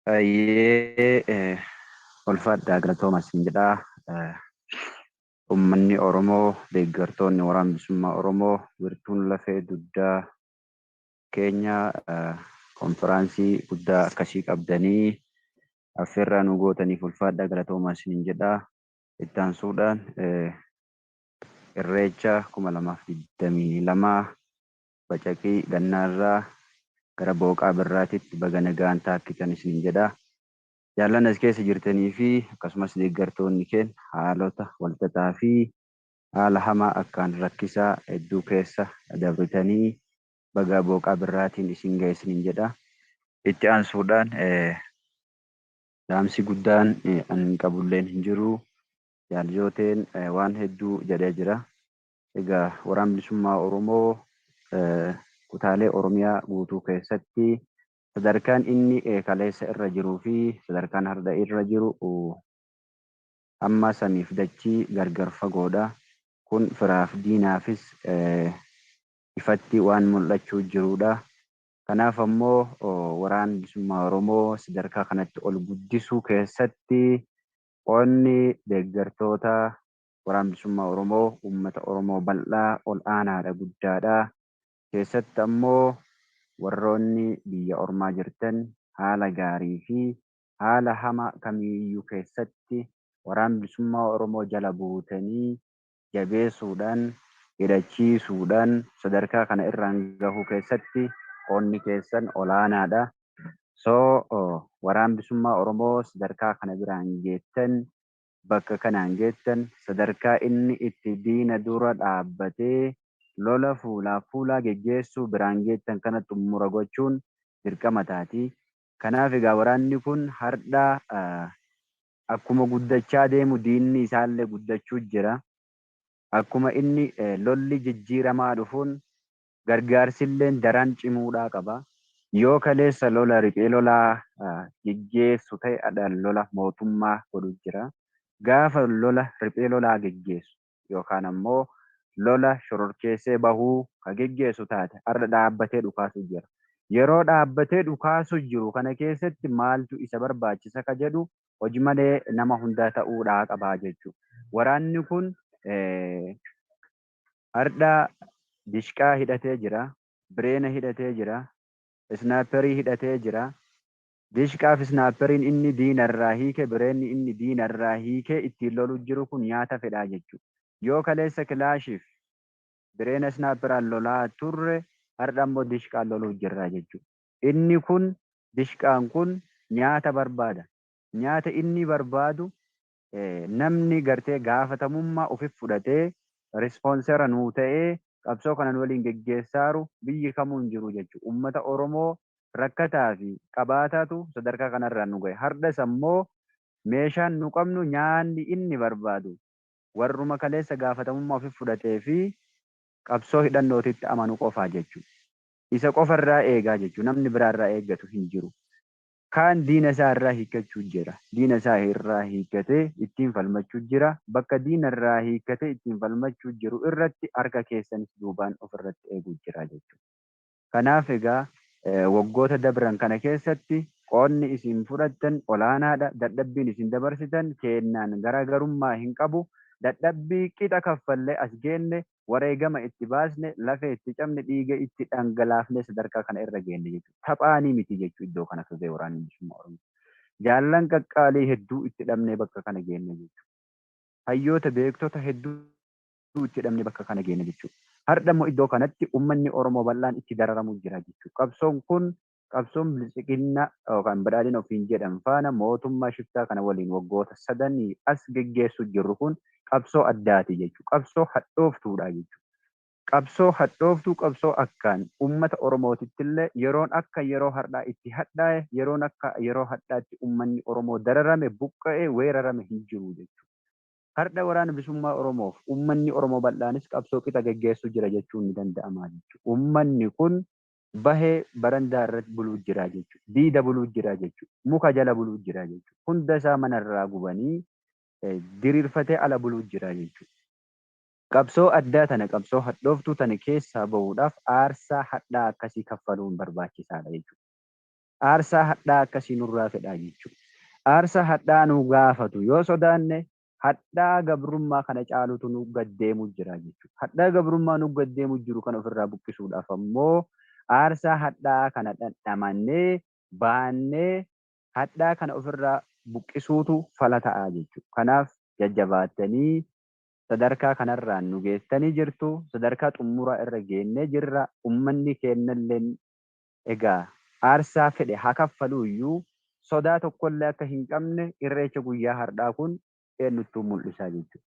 Hayyee ulfaadhaa galatooma siin jedhaa ummanni Oromoo deeggartoonni waraan bilisummaa Oromoo wirtuun lafee dugdaa keenya konfiraansii guddaa akkasii qabdanii affeerraa nu gootaniif ulfaadhaa galatoomaa siin jedhaa ittaansuudhaan irreecha 2022 bacaqii gannaarraa gara booqaa birraatitti baga nagaan taakkitan isiniin jedha. Jaallan as keessa jirtanii fi akkasumas deeggartoonni keen haalota walxaxaa fi haala hamaa akkaan rakkisaa hedduu keessa dabritanii baga booqaa birraatiin isin gahe isiniin jedha. Itti aansuudhaan dhaamsi guddaan anin qabulleen hin jiru. Jaal Jooteen waan hedduu jedhee jira. Egaa Waraanni Bilisummaa Oromoo kutaalee Oromiyaa guutuu keessatti sadarkaan inni kaleessa irra jiruu fi sadarkaan har'a irra jiru hamma samiif dachii gargar fagoodha. Kun firaaf diinaafis ifatti waan mul'achuu jiruudha. Kanaaf ammoo Waraanni Bilisummaa Oromoo sadarkaa kanatti ol guddisuu keessatti qoodni deeggartoota Waraan Bilisummaa Oromoo uummata Oromoo bal'aa, ol aanaadha, guddaadha. Keessatti ammoo warroonni biyya ormaa jirtan haala gaarii fi haala hama kamiiyyuu keessatti Waraan Bilisummaa Oromoo jala buutanii jabeessuudhaan, hidhachiisuudhaan sadarkaa kana irraan gahuu keessatti qoonni keessan ol aanaadha. So Waraan Bilisummaa Oromoo sadarkaa kana biraan geettan bakka kanaan geettan sadarkaa inni itti diina dura dhaabbatee lola fuulaaf fuulaa geggeessuu biraan geettan kana xummura gochuun dirqama taati. Kanaaf egaa waraanni kun hardha akkuma guddachaa deemu diinni isaallee guddachuu jira. Akkuma inni lolli jijjiiramaa dhufuun gargaarsilleen daran cimuudhaa qaba. Yoo kaleessa lola riphee lolaa geggeessu ta'e adha lola mootummaa godhu jira. Gaafa lola riphee lolaa geggeessu yookaan ammoo lola shororkeessee bahuu ka geggeessu taate har'a dhaabbatee dhukaasu jira. Yeroo dhaabbatee dhukaasu jiru kana keessatti maaltu isa barbaachisa ka jedhu hojmalee nama hundaa ta'uudhaa qaba jechuudha. Waraanni kun Hardhaa dishqaa hidhatee jira, bireena hidhatee jira, isnaaperii hidhatee jira. Dishqaa fi isnaaperiin inni diina irraa hiike, bireenni inni diina irraa hiikee ittiin lolu jiru kun nyaata fedhaa jechuudha. Yoo kaleessa kilaashii fi bireena isnaaperaan lolaa turre hardha immoo dishqaan loluu jirra jechuudha. Inni kun dishqaan kun nyaata barbaada. Nyaata inni barbaadu namni gartee gaafatamummaa ufif fudhatee responsera nuu ta'ee qabsoo kana nu waliin geggeessaaru biyyi kamuu hin jiru jechu ummata Oromoo rakkataa fi qabaataatu sadarkaa kanarraan nu gahe hardhas ammoo meeshaan nu qabnu nyaanni inni barbaadu warruma kaleessa gaafatamummaa ufif fudhatee fi qabsoo hidhannootitti amanu qofaa jechu isa qofarraa eegaa jechu namni biraarraa eeggatu hin jiru Kaan diina isaa irraa hiikkachuu jira. Diina isaa irraa hiikkatee ittiin falmachuu jira. Bakka diina irraa hiikkatee ittiin falmachuu jiru irratti harka keessanis duubaan of irratti eeguu jira jechuudha. Kanaaf egaa waggoota dabran kana keessatti qoodni isin fudhattan olaanaadha. Dadhabbiin isin dabarsitan keennaan garaagarummaa hin qabu. Dadhabbii qixa kaffallee as geenne wareegama itti baasne, lafee itti cabne, dhiiga itti dhangalaafnee sadarkaa kana irra geenne jechuudha. Taphaanii miti jechuudha iddoo kana turree waraanni bilisummaa Oromoo. Jaallan qaqqaalii hedduu itti dhabnee bakka kana geenne jechuudha. Hayyoota beektota hedduu itti dhabnee bakka kana geenne jechuudha. Hardha immoo iddoo kanatti ummanni Oromoo bal'aan itti dararamu jira jechuudha. Qabsoon kun Qabsoon Biltsiginna yookaan Badhaadhina ofiin jedhan faana mootummaa shiftaa kana waliin waggoota sadanii as geggeessuu jirru kun qabsoo addaati jechuudha. Qabsoo hadhooftuudha jechuudha. Qabsoo hadhooftuu qabsoo akkaan ummata Oromootittillee yeroon akka yeroo hardhaa itti hadhaaye, yeroon akka yeroo hadhaatti ummanni Oromoo dararame, buqqa'e, weerarame hin jiru jechuudha. Hardha Waraana Bisummaa Oromoof ummanni Oromoo bal'aanis qabsoo qixa geggeessuu jira jechuun ni danda'ama jechuudha. Ummanni kun bahee barandaa irratti buluu jira jechuudha. Diida buluu jira jechuudha. Muka jala buluu jira jechuudha. Hunda isaa mana irraa gubanii diriirfatee ala buluu jira jechuudha. Qabsoo addaa tana qabsoo hadhooftuu tana keessaa bahuudhaaf aarsaa hadhaa akkasii kaffaluun barbaachisaadha jechuudha. Aarsaa hadhaa akkasii nurraa fedhaa jechuudha. Aarsaa hadhaa nu gaafatu yoo sodaanne hadhaa gabrummaa kana caalutu nu gad deemu jira jechuudha. Hadhaa gabrummaa nu gad deemu jiru kana ofirraa buqqisuudhaaf ammoo aarsaa hadhaa kana dhandhamannee baannee hadhaa kana ofirraa buqqisuutu fala ta'a jechuudha. Kanaaf jajjabaattanii sadarkaa kanarraan nu geessitanii jirtu. Sadarkaa xumuraa irra geennee jirra. Ummanni keennalleen Egaa aarsaa fedhe haa kaffaluu iyyuu sodaa tokko illee akka hin qabne irreecha guyyaa hardhaa kun eennuttuu mul'isaa jechuudha.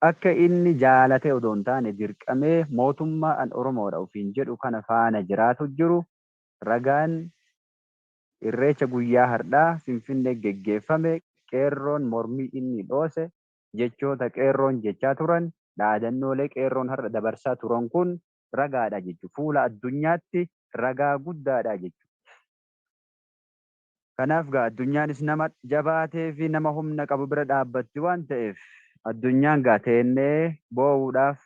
Akka inni jaalatee odoo hin taane dirqamee mootummaa an Oromoodha ofiin jedhu kana faana jiraatu jiru ragaan irreecha guyyaa hardhaa Finfinnee geggeeffame qeerroon mormii inni dhoose jechoota qeerroon jechaa turan dhaadannoolee qeerroon har'a dabarsaa turan kun ragaadha jechuudha. Fuula addunyaatti ragaa guddaadha jechuudha. Kanaaf gaa addunyaanis nama jabaatee fi nama humna qabu bira dhaabbatti waan ta'eef addunyaan gaa teennee boo'uudhaaf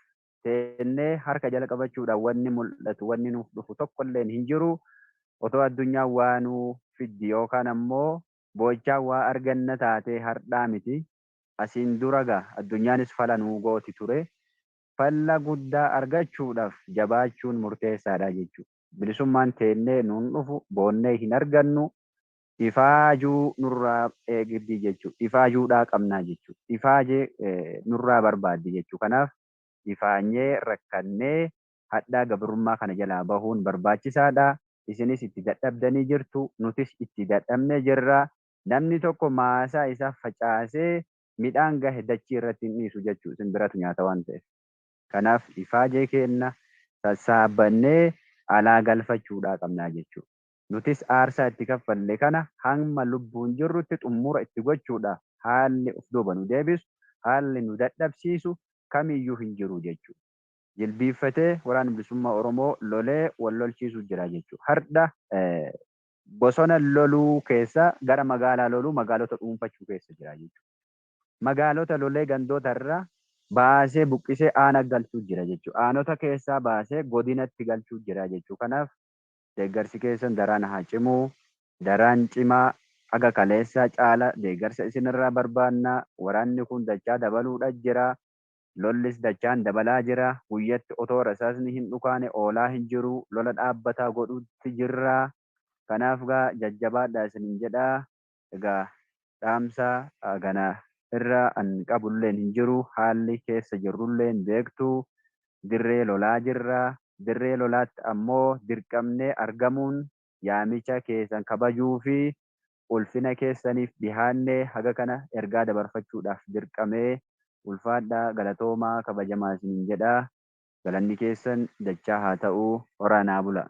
teennee harka jala qabachuudhaan wanni mul'atu wanni nuuf dhufu tokkolleen hin jiru. Otoo addunyaan waa nuu fiddi yookaan ammoo boo'ichaa waa arganna taatee hardhaa miti. Asiin dura gaa addunyaanis fala nuu gooti ture. falla guddaa argachuudhaf jabaachuun murteessaadha jechu. Bilisummaan teennee nuun dhufu boonnee hin argannu ifaajuu nurraa eegdi jechu. Ifaajuudhaa qabnaa jechu. Ifaaje nurraa barbaaddi jechu. Kanaaf ifaanyee rakkannee hadhaa gabrummaa kana jalaa bahuun barbaachisaadha. Isinis itti dadhabdanii jirtu. Nutis itti dadhabnee jirra. Namni tokko maasaa isaa facaasee midhaan gahe dachii irratti hin dhiisu jechuu simbiratu nyaata waan ta'eef. Kanaaf ifaajee keenna sassaabannee alaa galfachuudhaa qabnaa jechuu. Nutis aarsaa itti kaffalle kana hamma lubbuun jirrutti xummura itti gochuudha haalli of duuba nu deebisu, haalli nu dadhabsiisu kamiyyuu hin jiru jechuu. Jilbiiffatee waraanni bilisummaa Oromoo lolee wal lolchiisuu jira jechuu. Hardha. Bosona loluu keessa gara magaalaa loluu magaalota dhuunfachuu keessa jira jechuudha. Magaalota lolee gandoota irraa baasee buqqisee aana galchuu jira jechuudha. Aanota keessaa baasee godinatti galchuu jira jechuudha. Kanaaf deeggarsi keessan daraan haa cimu, daraan cimaa haga kaleessaa caala deeggarsa isin irraa barbaanna, waraanni kun dachaa dabaluudha jira, Lollis dachaan dabalaa jira. Guyyatti otoo rasaasni hin dhukaane oolaa hin jiru. Lola dhaabbataa godhuutti jirra. Kanaaf egaa jajjabaadhaa isinin jedha. Egaa dhaamsa kana irra an qabulleen hin jiru. Haalli keessa jirrulleen beektu. Dirree lolaa jirra. Dirree lolaatti ammoo dirqamnee argamuun yaamicha keessan kabajuu fi ulfina keessaniif dhihaannee haga kana ergaa dabarfachuudhaaf dirqame. Ulfaadhaa, galatoomaa, kabajamaa isiniin jedha. Galanni keessan dachaa haa ta'u. Horaa naa bulaa.